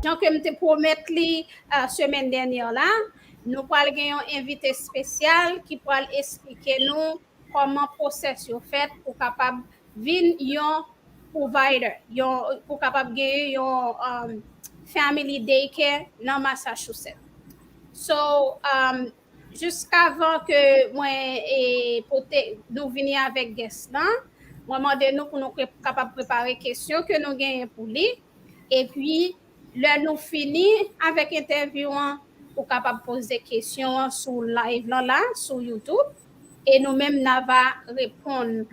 Jan ke m te pwomèt li semèn dènyè la, nou pral gen yon envite spesyal ki pral esplike nou kòman process yo fèt pou kapab vin yon provider, yon pou kapab genyen yon Family Day Care nan Massachusetts. So, Jiskavan ke mwen pote nou vini avèk gès lan, mwen mande nou pou nou kapab prepare kesyon ke nou genyen pou li. Epi, lè nou fini avèk entèvyou an, ou kapab poze kesyon an sou live lan la, sou YouTube. E nou menm n a va reponn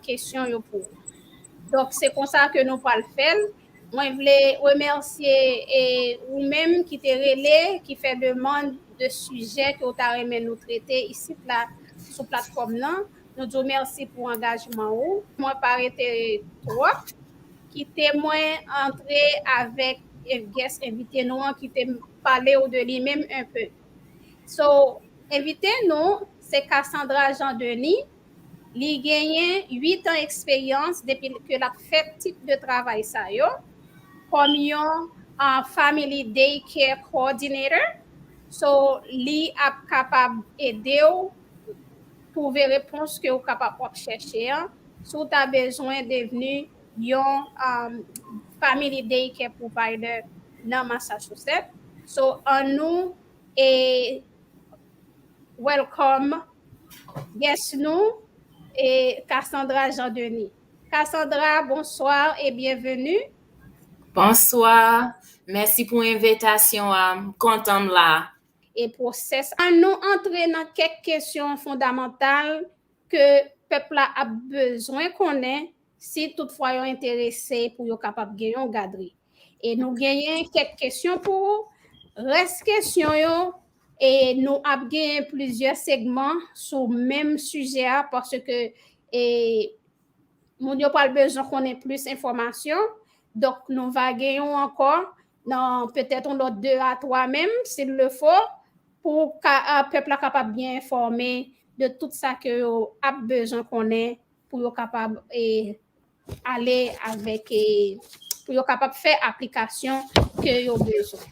kesyon yo pou ou. Donk, se konsa ke nou pral fè l. Mwen vle remèsye e ou menm ki te rele, ki fè demand de sijè ke ou ta renmen nou trete isit la sou platfòm nan. Nou di w mèsi pou angajman ou. Mwen pa rete twòp. Kite mwen antre avèk guest envite nou an kite m pale ou de li menm un peu. So envite nou se Cassandra Jean Denis Li genyen 8 an eksperyans depi ke l ap fè tip de travay sa yo kòm yon Family Day Care Coordinator. So, li ap kapab ede w twouve repons ke ou kapab w ap chèche an si w ta bezwen devni yon Family Day Care Provider nan Massachusetts. So, annou e. Welcome guest nou e Cassandra Jean Denis. Cassandra bonsoir et bienvenue. Bonswa, mèsi pou envetasyon an, m kontan m la. E pwosès an nou antre nan kèk kesyon fondamantal ke pèp la ap bezwen konnen si tout fwa yo enterese pou yo kapab gen yon gadri. E nou genyen kèk kesyon pou ou, rès kesyon yo E nou ap gen plizyè segman sou menm sijè a paske e moun yo pral bezwen konnen plis enfòmasyon. Donk nou va gen yon ankò nan petèt yon lòt 2 a 3 menm s'il le faut pou ka pèp la kapab byen enfòme de tout sa ke yo ap bezwen konnen pou yo kapab e ale avèk e pou yo kapab fè aplikasyon ke yo bezwen.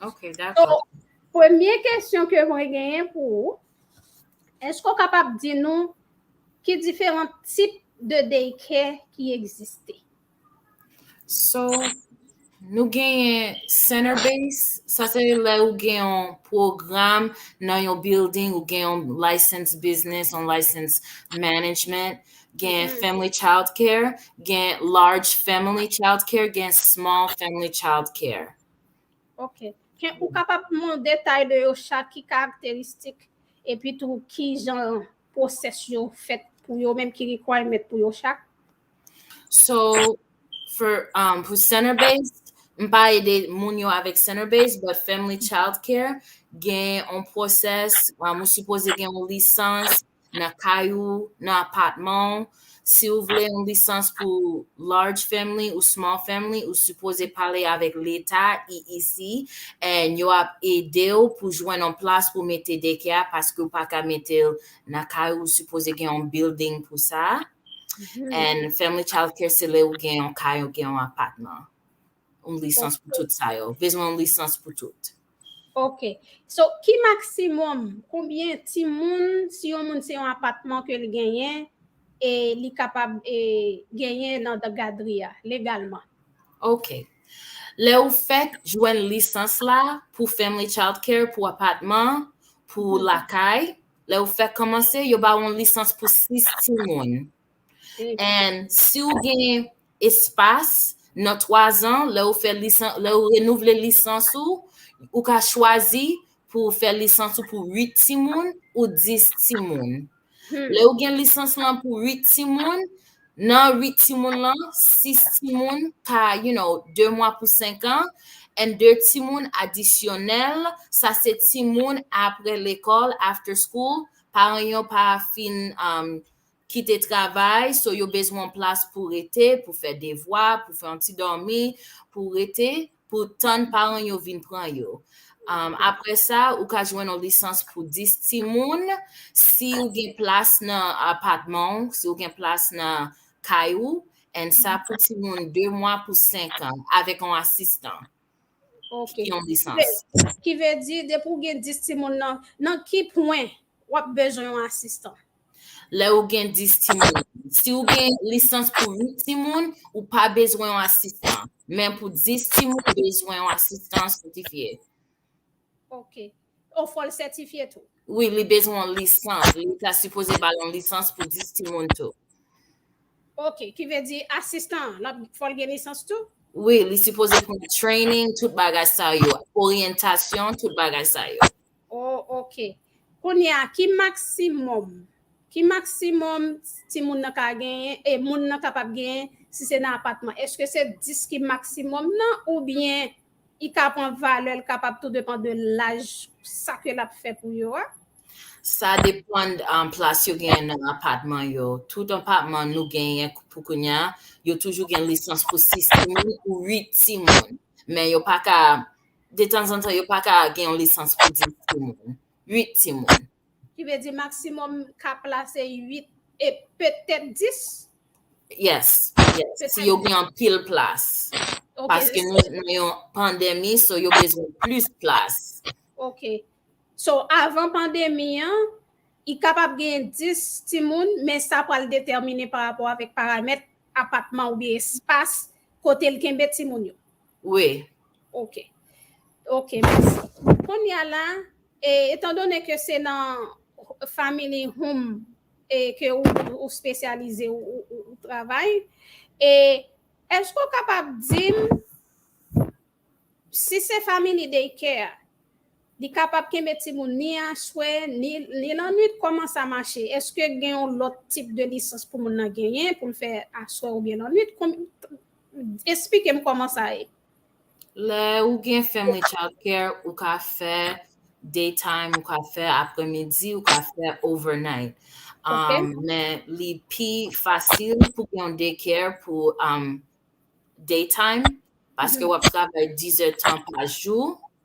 Ok, dakò. So, premye kesyon ke mwen genyen pou ou, eske ou kapab di nou ki diferan tip de daycare ki egziste? So, Nou genyen center base, sa se lè ou gen yon pwogram nan yon building, ou gen yon license business, yon license management, gen mm. family child care, gen large family child care, gen small family child care. Ok. Gen ou kapab moun detay de yo chak ki karakteristik epi tou ki jan pwosesyon fèt pou yo menm ki requirement pou yo chak? So, for, um, pou center base, m pa ede moun yo avèk center base, but family child care, gen on pwosès, um, ou sipoze gen on lisans nan kay ou, nan apatman ou. Si ou vle on lisans pou large family ou small family, ou sipoze pale avèk leta, EEC, and yo ap ede ou pou jwenn on plas pou mete daycare a, paske ou pa ka mete l nan kay ou, ou sipoze gen on building pou sa a. And family child care se lè ou gen yon kay, ou gen yon apatman. Yon lisans pou tout sa yo. Bezwen yon lisans pou tout. Ok. So, ki maksimòm, konbyen ti moun, si yon moun se yon apatman ke li genyen, e li kapab e genyen nan da gadri a, legalman? Ok. Lè ou fèk jwenn lisans la, pou family child care, pou apatman, pou lakay, Lè ou fèk kòmanse, yo ba ou yon lisans pou 6 timoun. And si ou gen espas, nan 3 zan, lè ou fè lisans, lè ou renouvle lisans ou, ou ka chwazi pou ou fè lisans ou pou 8 timoun ou 10 timoun. Lè ou gen lisans lan pou 8 timoun, Nan 8 timoun lan, 6 timoun ka, you know, 2 mwa pou 5 an, and 2 timoun adisyonèl, sa se timoun apre lekòl, after school, paran yo pa fin um, kite travay, so yo bezwen yon plas pou rete, pou fè devwa, pou fè yon ti dòmi, pou rete. pou tann paran yo vin pran yo. Um, apre sa, ou ka jwenn yon lisans pou 10 timoun si ou gen plas nan apatman ou, si ou gen plas nan kay ou, and sa pou timoun 2 mwa pou 5 an, avèk yon asistan Ok. ki gen yon lisans. Ki ve di, depi ou gen 10 timoun nan, nan ki pwen W ap bezwen yon asistan. Lè ou gen 10 timoun. Si ou gen lisans pou 8 timoun, ou pa bezwen yon asistan. Men pou 10 timoun, ou bezwen yon asistan sètifye. Ok. Ou fò l sètifye tou? Wi, li bezwen yon lisans. Li ta sipoze ba l yon lisans pou 10 timoun tou. Ok. Ki vle di asistan an, l ap fò l gen lisans tou? Wi, li sipoze pran training, tout bagay sa yo. Oryantasyon, tout bagay sa yo. Oh ok Kounye a ki maksimòm ki maksimòm timoun nan ka genyen e moun nan kapab genyen si se nan apatman? Eske se 10 ki maksimòm nan oubyen i ka pran valè l kapab tou depan de laj sa ke l ap fè pou yo a? Sa depann plas yo genyen nan apatman yo. Tout apatman nou genyen pou kounye a, yo toujou gen lisans pou 6 timoun ou 8 timoun. Men yo pa ka Detanzantan yo pa ka gen yon lisans pou 10 timoun, 8 timoun. Ki vle di maksimòm ka plase 8 e petèt 10? Yes, yes. Si yo gen anpil plas. Paske nou nan yon pandemi, so yo bezwen plis plas. Ok. So avan pandemi an, y kapab gen 10 timoun, men sa pral detèmine parapò avèk paramèt apatman oubyen espas kote l kenbe timoun yo. Wi. Ok. Ok, mèsi. Kounye a la, etan done ke se nan Family Home ke ou spesyalize ou travay, e èske ou kapab di m, si se Family Day Care, li kapab kenbe timoun ni aswè, ni lannwit, kòman sa mache? Èske gen yon lòt tip de lisans pou moun nan genyen pou l fè aswè oubyen lannwit? Esplikem koman sa ye. Lè ou gen family child care ou ka fè day time ou ka fè aprè midi ou ka fè over night men li pi fasil pou gen yon day care pou day time paske wap travay 10 è tan pa jou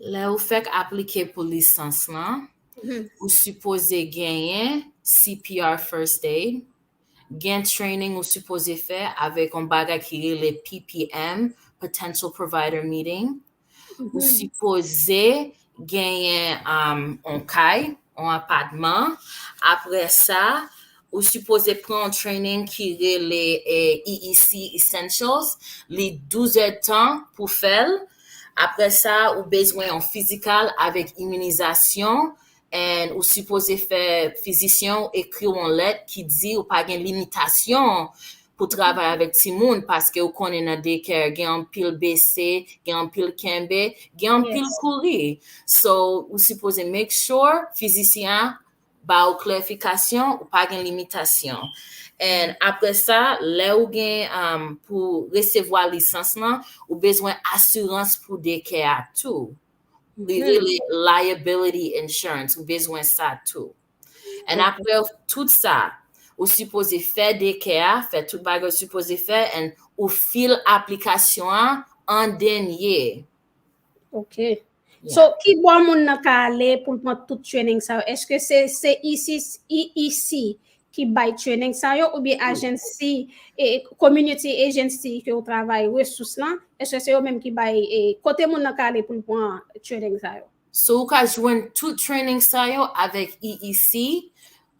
Lè ou fèk aplike pou lisans lan, ou sipoze genyen CPR First Aid, gen training ou sipoze fè avèk yon bagay ki rele PPM, Potential Provider Meeting, ou sipoze genyen yon kay, yon apatman, apre sa, Ou sipoze pran yon training ki rele EEC Essentials, li 12 èdtan pou fè l. Aprè sa, ou bezwen yon fizikal avèk iminizasyon and ou sipoze fè fizisyen ou ekri w yon lèt ki di ou pa gen limitasyon pou travay avèk timoun paske ou konnen nan daycare gen anpil bese, gen anpil kenbe, gen anpil kouri. So, ou sipoze make sure fizisyen an ba ou klarifikasyon, ou pa gen limitasyon. And apre sa, lè ou gen um, pou resevwa lisans lan, ou bezwen asirans pou dekè a tou. Li hmm. rele liability insurance, ou bezwen sa tou. And okay. apre tout sa, ou sipoze fè dekè a, fè tout bagay ou sipoze fè, and ou fil aplikasyon an an denye. Ok. So, ki bò moun nan ka ale pou l pran tout training sa yo? Eske se se EEC ki bay training sa yo ou byen agency e community agency ke ou travay resous lan? Eske se yo menm ki bay e kote moun nan ka ale pou l pran training sa yo? So ou ka jwenn tout training sa yo avèk EEC.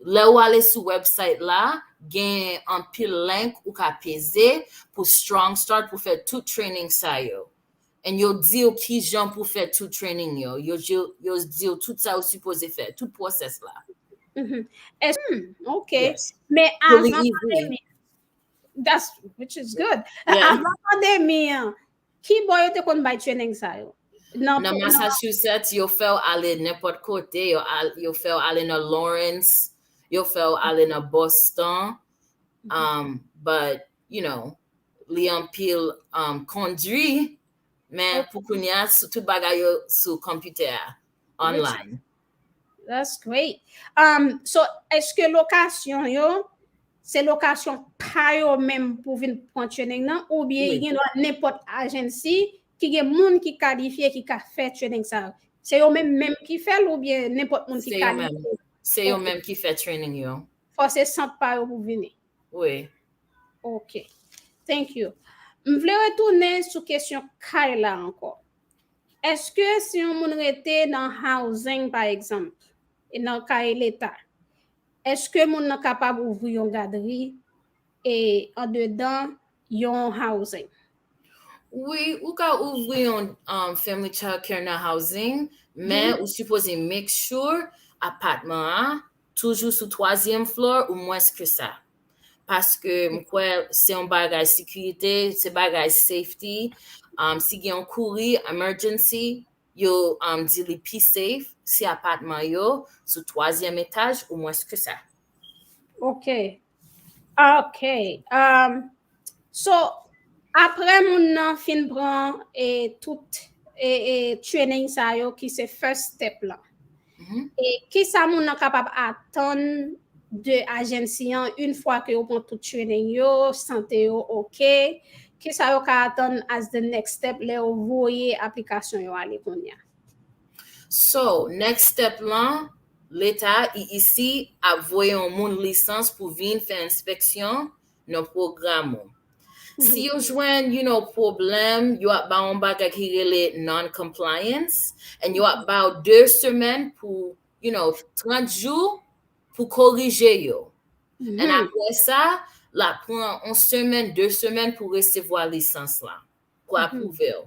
Lè ou ale sou website la, gen anpil link ou ka peze pou Strong Start pou fè tout training sa yo. and yo diw kijan pou fè tout training yo, yo diw tout sa ou sipoze fè, tout process la. Mm-hmm. Hmm, ok. Men avan pandemi, that's, which is good. Avan pandemi, ki bo yo te kon bay training sa yo? Nan Massachusetts, yo fèw ale nepot kote, yo fèw ale nan Lawrence, yo fèw ale nan Boston, mm-hmm. um, but you know, li anpil um, kondwi, men oh. pou kounya sou tout bagay yo sou kompitè a, online. That's great. Um, so, eske lokasyon yo, se lokasyon pa yo menm pou vin pran training nan, ou bie gen do a nepot agensi ki gen moun ki kalifye ki ka fè training sa yo? Se yo menm menm ki fè l ou byen nenpòt moun ki ka li? Se yo menm ki fè training yo. Fò se sant pa yo pou vini? Wi. Ok. Thank you. M vle retounen sou kesyon kay la ankò. Eske si yon moun rete nan housing pa egzanp, e nan kay leta, eske moun nan kapab ouvri yon gadri e andedan yon housing? Wi ou ka ouvri yon um, family child care nan housing, men ou sipoze make sure apatman a toujou sou twazyèm floor ou mwens ke sa. Paske m kwè se yon bagay sekirite, se bagay safety. Um, si gen yon kouri, emergency, yo um, di li pi safe si apatman yo sou twazyèm etaj ou mwens ke sa. Ok, Ok, um, so apre moun nan fin pran e tout e, e training sa yo ki se first step la. Mm -hmm. E ki sa moun nan kapab atan de ajensi an une fwa ke yo pran tout training yo, sante yo ok, ki sa yo ka atan as the next step le yo voye aplikasyon yo ale konya? So, next step lan, Leta IIC ap voye yon moun lisans pou vin fè enspeksyon nan pwogram ou. Si yo jwenn yon pwoblèm, yo ap ba w yon bagay ki rele non-compliance and yo ap ba w 2 semèn pou, you know, 30 jou pou korije yo. And apre sa, l ap pran yon semèn, 2 semèn pou resevwa lisans la. pou apwouve w.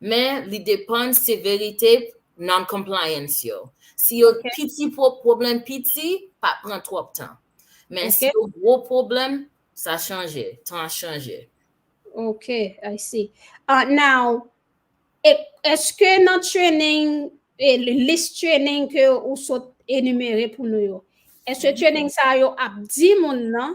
Men li depann severite non-compliance yo. Si yo piti pwoblèm piti, pa pran twòp tan. Men si yo gwo pwoblèm, sa chanje, tan an chanje. Ok, I see. Now, eske nan training, list training ke ou sot enumere pou nou yo, eske training sa yo ap di moun nan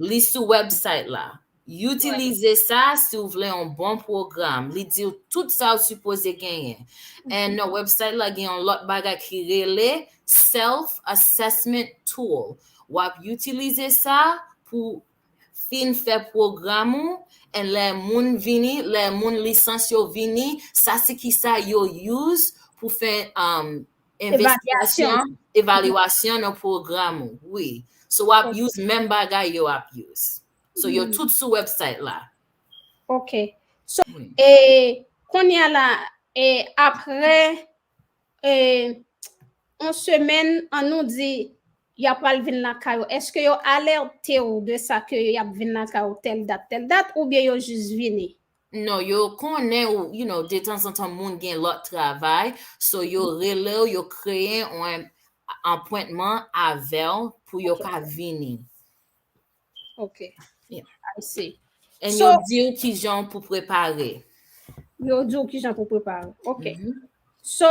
Li sou website la. Utilize sa si ou vle yon bon program. Li di ou tout sa ou sipoze genyen. And nan website la gen yon lot bagay ki rele self assessment tool. Wap utilize sa pou fin fè program ou and lè moun vini, lè moun lisans yo vini, sa se kisa yo use pou fè um Investigasyon, evaluasyon nan pwogram ou, wi. So wap use menm bagay yo ap use. So yo tout sou website la. Ok. So, e, kounye a la, e, apre, e, on semen, an nou di, ya pral vin lakay ou, eske yo alerte ou de sa ke yap vin lakay ou tel dat, tel dat, oubyen yo jis vini? Non yo konnen ou you know detanzantan moun gen lòt travay so yo relew yo kreye yon anpwentman avèw pou yo ka vini. Ok yeah. I see. And so, yo diw kijan pou prepare. Yo diw kijan pou prepare. Ok. Mm -hmm. So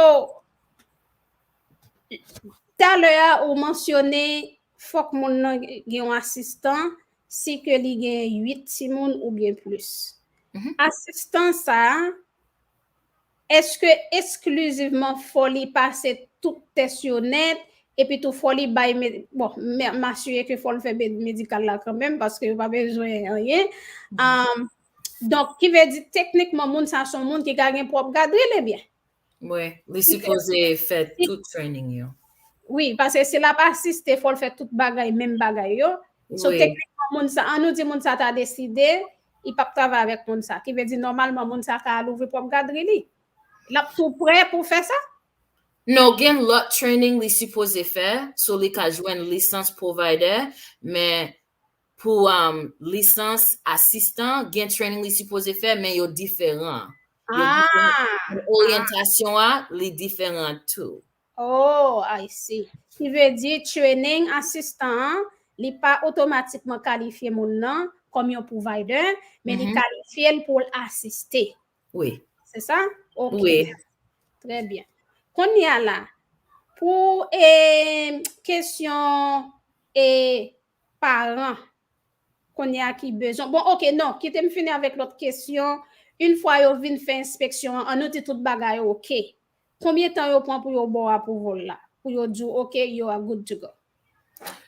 talè a ou mansyone fòk moun nan gen yon asistan si ke li gen 8 timoun oubyen plis. Asistan sa a, èske esklizivman fò li pase tout tès yo nèt, epi tou fò li bay, bon, m asire ke fò l fè medikal la kanmenm, paske yo pa bezwen anyen, donk, ki vle di teknikman moun sa a se yon moun ki ka gen pwòp gadri li byen? Mwe, li sipoze fè tout training yo. Wi, pase si la pa asiste, fòl fè tout bagay, menm bagay yo. So teknikman moun sa, an nou di moun sa ta deside, li pap travay avèk moun sa. Ki vle di nòmalman moun sa ka al ouvri pwòp gadri li. Lap tou prè pou fè sa? Non, gen lòt training li sipoze fè, so li ka jwenn lisans pwovaydè, men pou lisans asistan, gen training li sipoze fè, men yo diferan. Oryantasyon a, li diferan tou. Oh, I see. Ki vle di, training asistan an, li pa otomatikman kalifye moun nan kòm yon provider, men li kalifye l pou l asiste. Wi. Se sa? Ok. Wi. Trè byen. Kounye a la, pou kesyon paran kounye a ki bezwen bon ok non kite m fini avèk lòt kesyon yn fwa yo vin fè enspeksyon an an nou di tout bagay ok konbyen tan yo pran pou yo ba w apouval la pou yo di w ok you are good to go.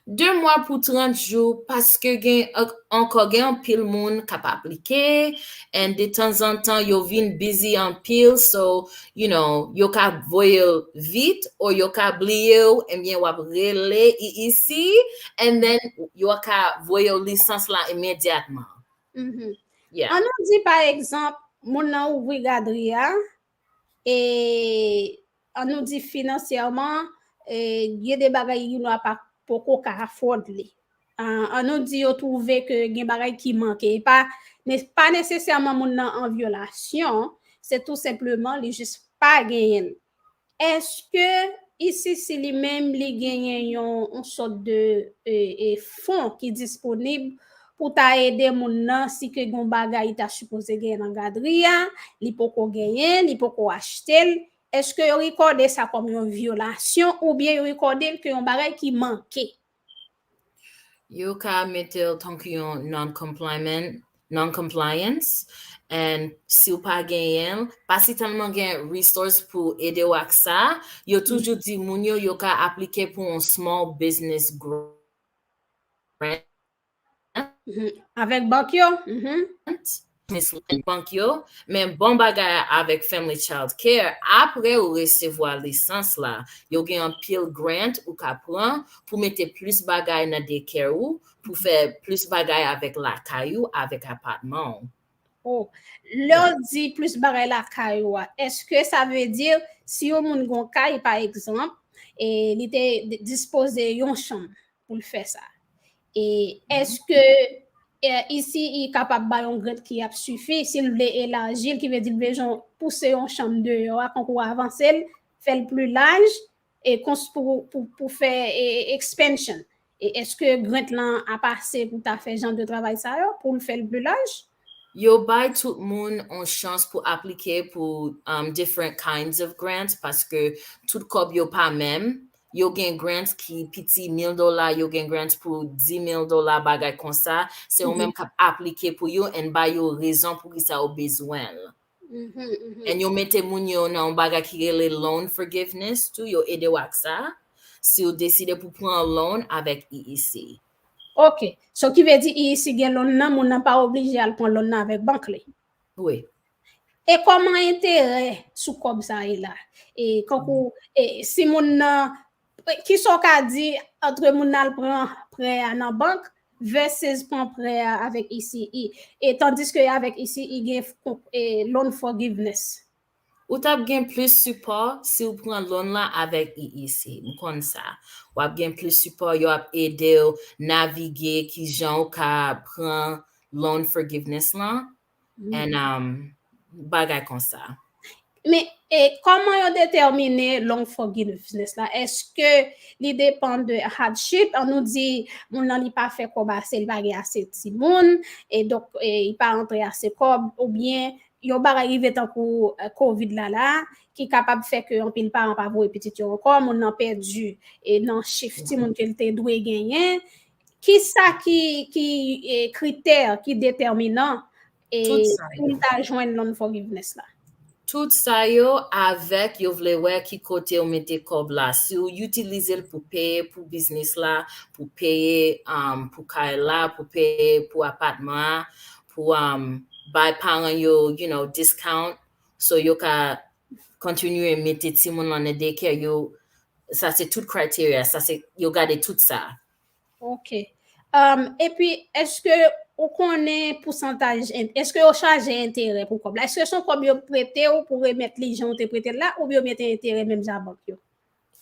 2 mwa pou 30 jou paske gen ankò gen anpil moun kap aplike and detanzantan yo vin busy anpil so you know, yo ka voye l vit or yo ka bliye w ebyen w ap rele EEC and then yo ka voye w lisans la imedyatman. Yeah. An nou di pa egzanp moun nan ouvri gadri a e an nou di finansyèman gen de bagay UNRWA pa poko ka afford li. An nou di yo twouve ke gen bagay ki manke. E pa pa nesesèman moun nan an vyolasyon, se tou senpleman li jis pa genyen l. Èske ICC li menm li genyen yon sòt de fon ki disponib pou ta ede moun nan si ke gen yon bagay li ta sipoze genyen nan gadri a, li poko genyen, li poko achte l? Èske yo rekòde sa kòm yon vyolasyon oubyen yo rekòde l ke yon bagay ki manke? Yo ka mete l tankou yon non-compliance and si w pa genyen l, pa si tèlman gen resource pou ede w ak sa, yo toujou di moun yo yo ka aplike pou yon small business grant. Avèk bank yo? Bank yo, men bon bagay a avèk Family Child Care, apre ou resevwa lisans la, yo gen anpil grant ou ka pran pou mete plis bagay nan dekè ou, pou fè plis bagay avèk lakay ou, avèk apatman ou. Oh, lè w di plis bagay lakay ou a, eske sa vle di si yon moun gon kay pa egzanp, e li te dispoze yon chanm pou l fè sa. E eske isi i kapab ba yon grant ki ap sifi si l vle elaji l ki vle di l bezwen pouse yon chanm deyò a konkou avanse l, fè l pli laj E kons pou pou fè expansion. E eske grant lan ap ase pou ta fè jan de travay sa yo poul fèl plus large? Yo bay tout moun on chans pou aplike pou different kinds of grants paske tout kòb yo pa menm, yo gen grants ki piti mil dola yo gen grants pou di mil dola bagay konsa, se ou menm kap aplike pou yo and bay yo rezon poukisa ou bezwenl. And yo mete moun yo nan yon bagay ki rele loan forgiveness tou, yo ede w ak sa, si ou deside pou pran yon loan avèk EEC. Ok, so ki vle di EEC gen loan nan, moun nan pa oblije al pran loan nan avèk bank li? Wi. E kòman enterè sou kòb sa ye la? E kankou, e si moun nan Ki sa w ka di antre moun nan al pran prè a nan bank versus pran prè a avèk ECE? E tandiske avèk ECE gen loan forgiveness. Ou tap gen plis sipò si w pran loan la avèk EEC. M konn sa. W ap gen plis sipò, yo ap ede w navige kijan w ka pran loan forgiveness lan and um, bagay konsa. Men, e kòman yo detèmine long forgiveness la? Eske li depan de hardship? An nou di moun nan li pa fè kòb ase, li pa gen ase timoun, e donk e li pa antre ase kòb oubyen yon bagay rive tankou covid la la ki kapab fè ke anpil paran pa voye pitit yo ankò, moun nan pèdi e nan chif timoun ke li te dwe genyen, Ki sa ki kritè ki detèminan pou n ta jwenn non forgiveness la? Tout sa yo avèk yo vle wè ki kote ou mete kòb la. Si ou itilize l pou peye pou biznis la, pou peye pou kay la, pou peye pou apatman an, pou bay paran yo discount so yo ka kontinye mete timoun lan nan dekè yo sa se tout criteria sa se yo gade tout sa. Ok um epi eske ou konnen pousantaj en eske yo chaje enterè pou kòb la eske son kòb yo prete ou pou remèt li jan ou te prete l la oubyen yo mete enterè menm jan a bank yo?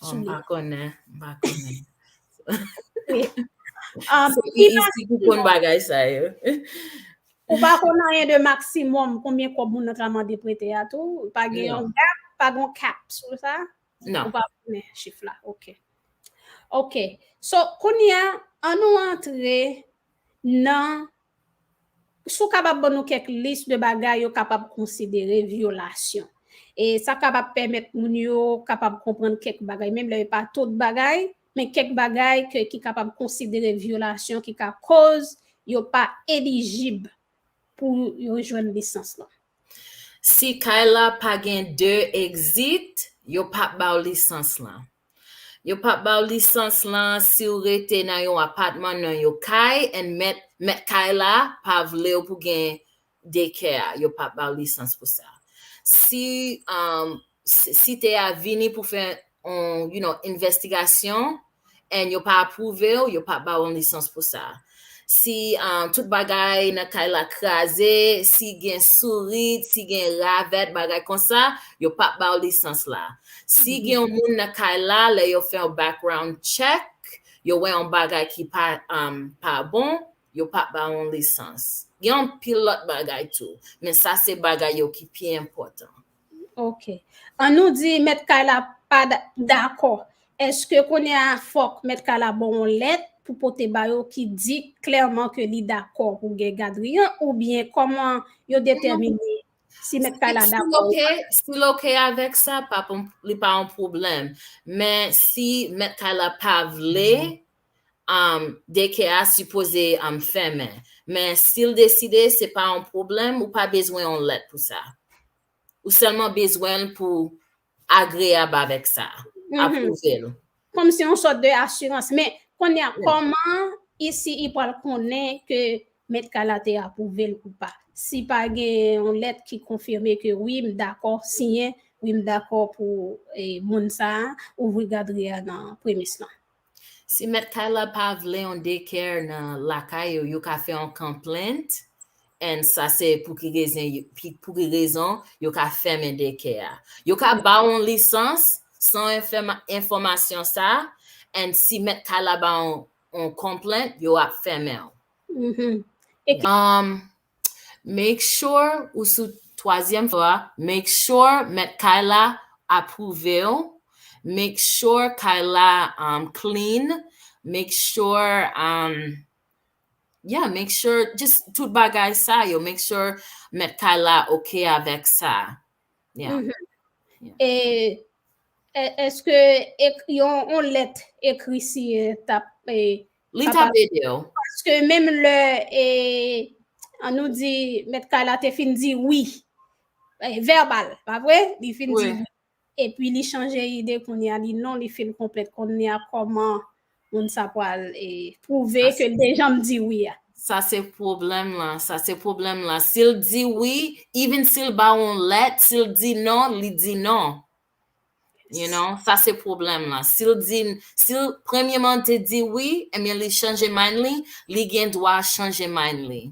Oh, m pa konnen, m pa konnen. Ah, Se ki ki isi ki konn bagay sa yo. Ou pa konn anyen de maksimòm konbyen kòb moun nan ka mande prete a tou? Pa gen Non. yon gap, pa gen yon cap sou sa? Non. Ou pa konnen chif la, ok. Ok, so kounye a, an nou antre nan Si w kapab ban nou kèk lis de bagay yo kapab konsidere vyolasyon. E sa kapab pèmèt moun yo kapab konprann kèk bagay, menm lè pa tout bagay, men kèk bagay ke ki kapab konsidere vyolasyon ki ka koz yo pa elijib pou yo jwenn lisans lan. Si kay la pa gen 2 exit, yo pap ba w lisans lan. Yo pap baw lisans lan siw rete nan yon apatman nan yon kay and mèt mèt kay la pa vlew pou gen dekè a yo pap baw lisans pou sa si um site a vini pou fè on you know envèstigasyon and yo pa apwouvew yo pap baw on lisans pou sa si tout bagay nan kay la kraze, si gen sourit, si gen ravèt, bagay konsa, yo p ap ba w lisans la. Si gen yon moun nan kay la, lè yo fè yon background check, yo wè yon bagay ki pa pa bon, yo p ap ba w yon lisans. Gen anpil lòt bagay tou, men sa se bagay yo ki pi enpòtan. Ok. An nou di mèt kay la pa dakò. Eske kounye a fòk mèt kay la bon yon lèt pou pote ba yo ki di klèman ke li dakò pou gen gadri an oubyen kòman yo detèmine si mèt kay la dakò ou pa? Si l ok avèk sa, li pa yon pwoblèm. Men si mèt kay la pa vle, Daycare a sipoze fèmen men si l deside se pa yon pwoblèm ou pa bezwen yon lèt pou sa. Ou sèlman bezwen l pou agreyab avèk sa, apwouve l. Kòm se yon sòt de asirans. Men, kounye a, kòman ICI pral konnen ke mèt kay la te apwouve l ou pa, si pa gen yon lèt ki konfime ke wi m dakò siyen, wi m dakò pou moun sa a ouvri gadri a nan premis lan? Si mèt kay la pa vle yon daycare nan lakay yo, yo ka fè yon complaint and sa se pou ki rezen pou ki rezon yo ka fèmen daycare a. Yo ka ba w yon lisans san w fè enfòmasyon sa and si mèt kay la ba w yon complaint, yo ap fèmen w. Umm. Make sure ou sou twazyèm flo a, make sure mèt kay la apwouve w, make sure kay la clean, make sure yeah make sure just tout bagay sa yo, make sure mèt kay la ok avèk sa yeah. E eske yon lèt ekri siyen tap Li t ap ede w. Paske menm lè, an nou di, mèt kay la te fin di wi, vèbal, pa vre? Li fin di wi. Epi li chanje ide kounye a, li non, li feel konplèt kounye a, kòman moun sa pral pwouve ke l te janm di wi a? Sa se pwoblèm la, sa se pwoblèm la. Si l di wi, even si l ba w yon lèt, si l di non, li di non. You know, sa se pwoblèm lan. Si l di, si l premyeman te di wi, ebyen eh li chanje mind li, li gen dwa chanje mind li.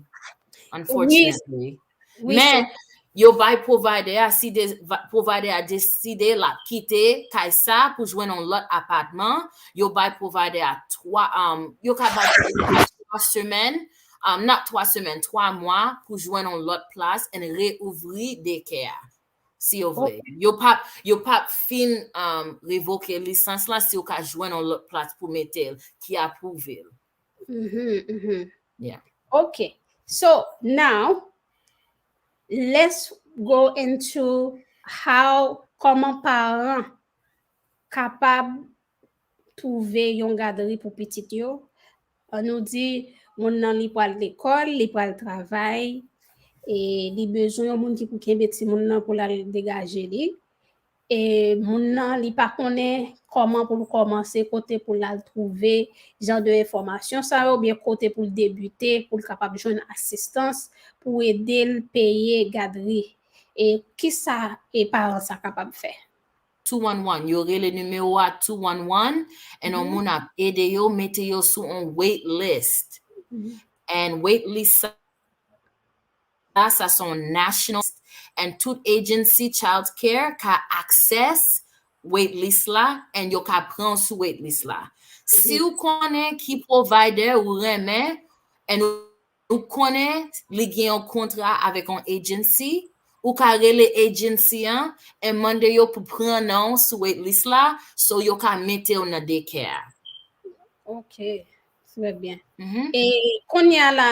Unfortunately. Oui, Men, so... yo bay provider a, si de, provider a deside la kite kay sa pou jwenn yon lòt apatman, yo bay provider a 3, um, yo ka bay provider a 3 semèn, um, not 3 semèn, 3 mwa pou jwenn yon lòt plas and re-ouvri daycare a. Si yo vle. Yo pa, yo pa fin um, revoke lisans la si yo ka jwenn an lòt plas pou mete l ki apwouve l. Mm -hmm, mm -hmm. Yeah. Ok. So, now, let's go into how, koman paran kapab twouve yon gadri pou pitit yo, an nou di moun nan li pral lekòl, li pral travay, e li bezwen yon moun ki pou kenbe ti moun nan pou l al degaje li, e moun nan li pa konnen kòman pou l kòmanse, kote pou l al twouve jan de enfòmasyon sa yo, oubyen kote pou l debite pou l kapab jwenn asistans pou ede l peye gadri, e kisa e paran sa kapab fè? 211 yo rele nimewo a 211 and on moun ap ede yo mete yo sou on wait list and wait list sa sa son national and tout agency child care ka access wait list la and yo ka pran sou wait list la si ou konnen ki provider ou renmen and ou Ou konnen li gen yon kontra avèk yon agency, ou ka rele agency an and mande yo pou pran non w sou wait list la so yo ka mete w nan daycare a. Ok, trè byen. E kounye a la,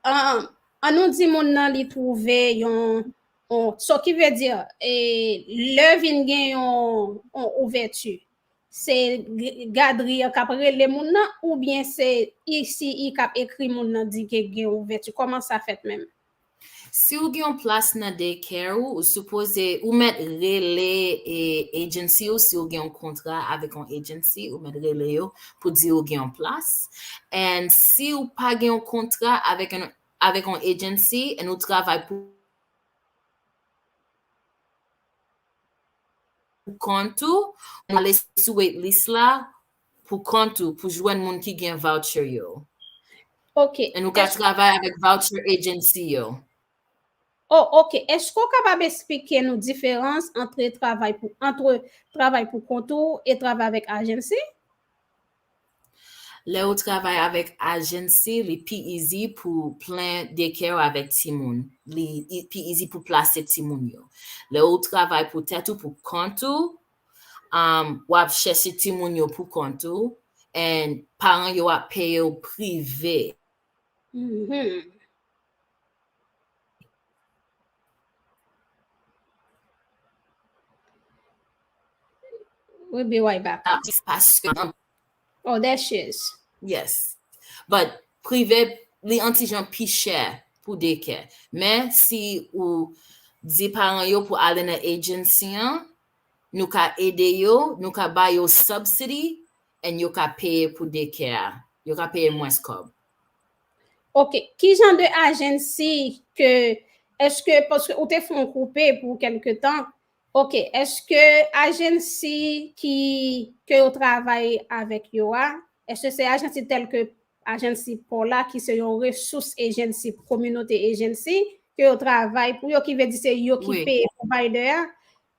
an nou di moun nan li twouve yon, so ki vle di lè vin gen yon ouvèti, Se gadri an kap rele moun nan oubyen se ICI kap ekri moun nan di ke gen ouvèti? Kòman sa fèt menm? Si ou gen yon plas nan day care ou, ou sipoze, ou mèt rele agency ou si ou gen yon kontra avèk yon agency, ou mèt rele yo pou di ou gen yon plas. And si ou pa gen yon kontra avèk yon avèk yon agency and ou travay pou. pou kont ou, ou ale sou waitlist la pou kont ou pou jwenn moun ki gen voucher yo. Ok. E nou ka travay avèk voucher agency yo. Oh ok, eske ou kapab esplike nou diferans antre travay pou antre travay pou kont ou e travay avèk agency? Lè ou travay avèk agency li pi easy pou plen daycare ou avèk timoun. Li e- pi easy pou plase timoun yo. Lè ou travay pou tèt ou, pou kont ou, um, wap chèche timoun yo pou kont ou and paran yo ap peye ou prive. Mhmm. We'll be right back. Ah, just pass. Oh, there she is. Yes. But prive, li antijan pi chè pou dekè. Men, si ou di paran yo pou ale nan agency an, nou ka ede yo, nou ka ba yo subsidy, And yo ka peye pou dekè a. Yo ka peye mwens kòb. Ok, ki jan de agency ke, eske, paske ou te fè yon koupe pou kelke tan, ok, eske agency ki, ke yo travay avèk yo a, eske se agency tèl ke agency paw la ki se yon resous agency, kominote agency, ke yo travay pou yo, ki vle di se yo ki peye provider a,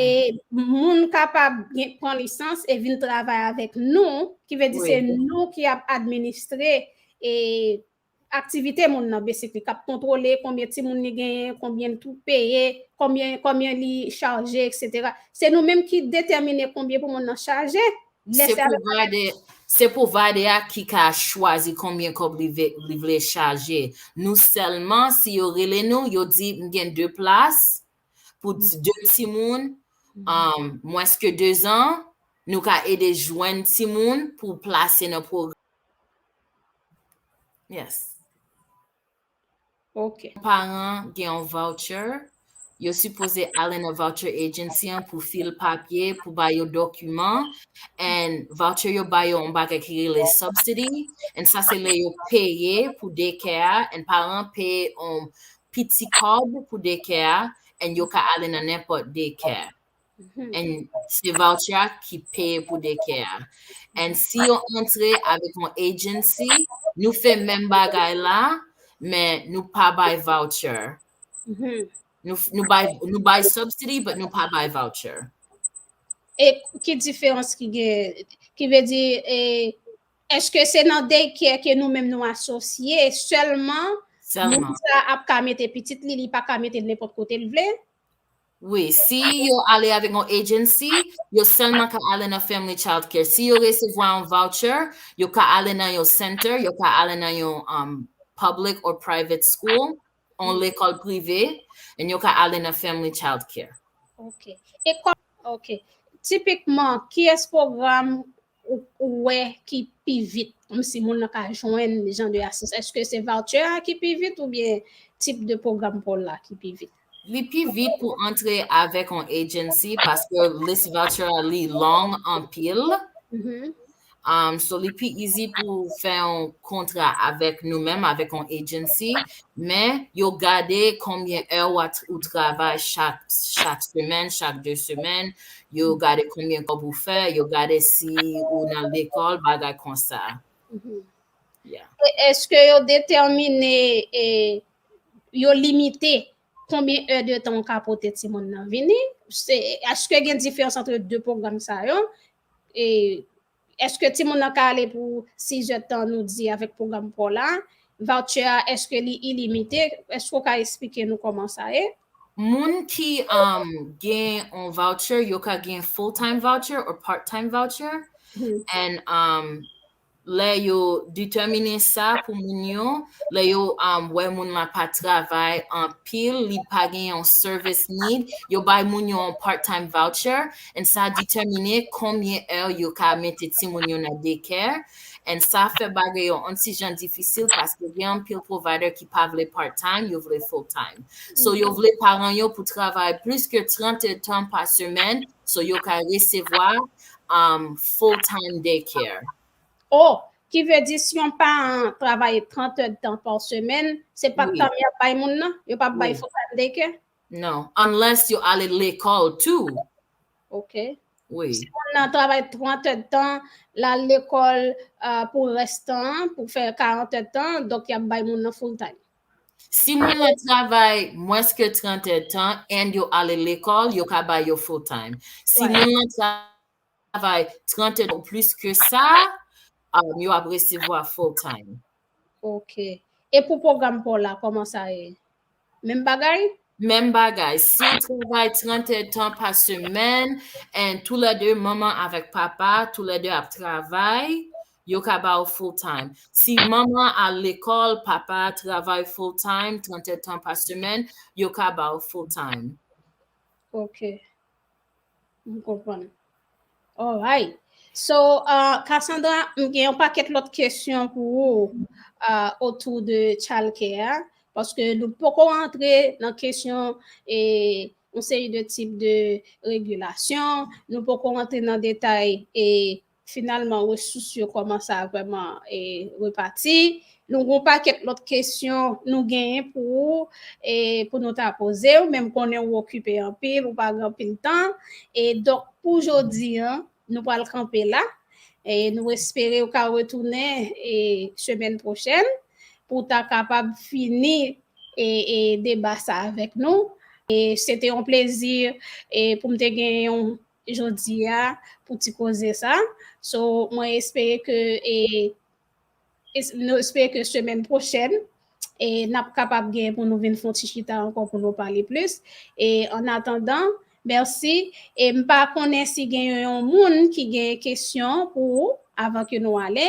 E moun kapab gen pran lisans e vin travay avèk nou, ki vle di se nou ki ap administre e aktivite moun nan basically, kap kontwole konbyen timoun li genyen, konbyen li pou peye, konbyen konbyen li chaje etc. Se nou menm ki detèmine konbyen pou moun nan chaje. Se provider, se provider a ki ka chwazi konbyen kòb li ve li vle chaje. Nou sèlman si yo rele nou, yo di m gen 2 plas, Pou de timoun, mwens ke 2 zan, nou ka ede jwenn timoun pou plase nan pwogram. Yes. Ok. Paran gen yon voucher, yo sipoze ale nan voucher agency an pou fil papye, pou ba yo dokiman, and voucher yo ba yo yon bagay ki rele subsidy, and sa se lè yo peye pou dekè a, and paran peye yon pi ti kòb pou dekè a and yo ka ale nan nenpòt dekè and se voucher a ki peye pou dekè a and si yo antre avèk yon agency nou fè menm bagay la men nou pa bay voucher nou bay nou bay subsidy but nou pa bay voucher. E ki diferans ki gen ki vle di e Eske se nan day care ke nou menm nou asosye selman moun sa ap ka mete pitit li li pa ka metel nenpot kotel vle? Wi, si yo ale avèk yon agency, yo sèlman ka ale nan Family Child Care. Si yo resevwa yon voucher, yo ka ale nan yon center, yo ka ale nan yon public or private school. on lekòl prive, and yo ka ale nan Family Child Care. Ok. E kòm, ok, tipikman, ki es pwogram ou wè ki pi vit, kòm si moun nan ka jwenn jan de asistans? Eske se voucher a ki pi vit oubyen tip de pwogram paw la ki pi vit? Li pi vit pou antre avèk on agency paske list voucher a li long anpil. Um, so li pi easy pou fè yon kontra avèk nou menm, avèk yon agency, men yo gade konbyen è ou, at- ou travay chak, chak semèn, chak 2 semèn, yo gade konbyen kòb ou fè, yo gade si ou nan lekòl, bagay konsa. Mhm. Yeah. E eske yo detèmine e yo limite konbyen è de tan ou ka pote timoun nan vini? Se eske gen diferans antre 2 pwogram sa yo Eske timoun nan ka ale pou 6 zè tan nou di avèk pwogram paw la? Voucher a eske li ilimite? Eske ou ka esplike nou kòman sa ye? Moun ki gen yon voucher yo ka gen full time voucher or part time voucher and Lè yo detèmine sa pou moun yo, lè yo wè moun la pa travay anpil, li pa gen yon service need, yo bay moun yo yon part time voucher and sa detèmine konbyen è yo ka mete timoun yo nan daycare and sa fè bagay yo yon ti jan difisil paske gen anpil provider ki pa vle part time, yo vle full time. So yo vle paran yo pou travay plis ke 30 èdtan pa semèn So yo ka resevwa full time day care. Oh, ki vle di si yon paran an travaye 30 è dtan pa semèn, se pa tan an y ap bay moun nan? Yo pa p bay full time day care? Non, unless yo ale lekòl tou. Ok. Wi. Si moun nan travay 30 è dtan, l al lekòl pou rès tan an, pou fè 40 è dtan, donk y ap bay moun nan full time. Si moun nan travay mwens ke 30 è tan and yo ale lekòl, yo ka bay yo full time. Si moun nan travay 30 è tan ou plis ke sa, yo ap resevwa full time. Ok. E pou pwogram pa w la, kòman sa ye? Menm bagay? Menm bagay, si w travay 30 èdtan pa semèn, and tou lè 2 manman avèk papa, tou lè 2 ap travay, yo ka ba ou full time. Si manman al lekòl, papa a travay full time, 30 èdtan pa semèn, yo ka ba ou full time. Ok. M konprann. Alright. So, Cassandra, m gen yon pakèt lòt kesyon pou ou otou de chalkè a, paske nou poko antre nan kesyon e yon seri de tip de regilasyon, nou poko antre nan detay e Finalman resous yo kòmanse a vrèman repati. Nou gon pakèt lòt kesyon nou genyen pou ou e pou nou ta poze ou men m konnen ou okipe anpil ou pa gen anpil tan e donk pou jodi an nou pral kanpe la e nou espere ou ka retounen e semèn pwochèn pou w ta kapab fini e e deba sa avèk nou e se te yon plezi e pou m te gen yon jodi a pou ti koze sa so mwen espere ke e nou espere ke semèn pwochèn e nap kapab gen pou nou vin fon ti chita ankò pou nou pale plis e an atandan mèsi e m pa konnen si gen yon moun ki gen kesyon pou ou avan ke nou ale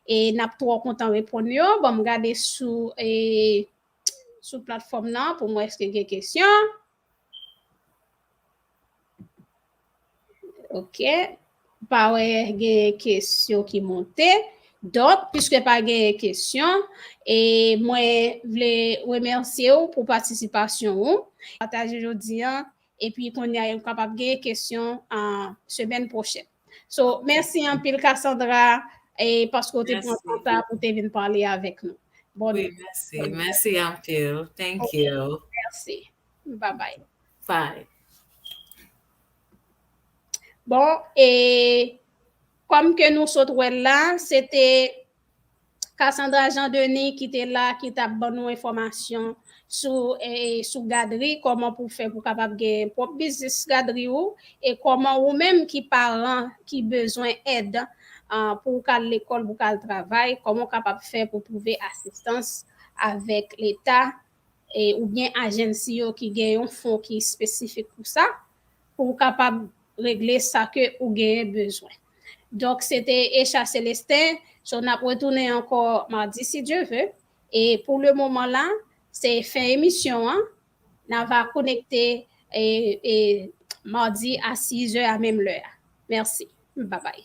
e nap twò kontan reponn yo banm gade sou e sou platfòm nan pou m wè èske gen kesyon. Ok, pa wè gen kesyon ki monte. Donk, piske pa gen kesyon, e mwen vle remèsye ou pou patisipasyon ou. Pataje jodi an, epi kounye a yo kapab gen kesyon an semèn pwochèn. So, mèsi anpil Cassandra e paske ou te pran tan sa pou te vin pale avèk nou. Bon oui, mèsi, mèsi anpil. Thank you. Mèsi. Bye bye. Bye. Bon, e kòm ke nou sot wè l la, se te Cassandra Jean Denis ki te la ki tap ban nou enfòmasyon sou sou gadri kòman pou fè pou kapab gen pwòp biznis gadri ou e kòman ou menm ki paran ki bezwen èd pou ou ka al lekòl pou ka al travay kòman ou kapab fè pou twouve asistans avèk leta oubyen agency yo ki gen yon fon ki espesifik pou sa, pou ou kapab regle sa ke ou genyen bezwen. Donk se te Echa Celestin, so nap retounen ankò mardi si Dieu veut, e pou le moman la se fen emisyon an, na va konekte mardi a 6 è a menm lè a. Mèsi. Babay.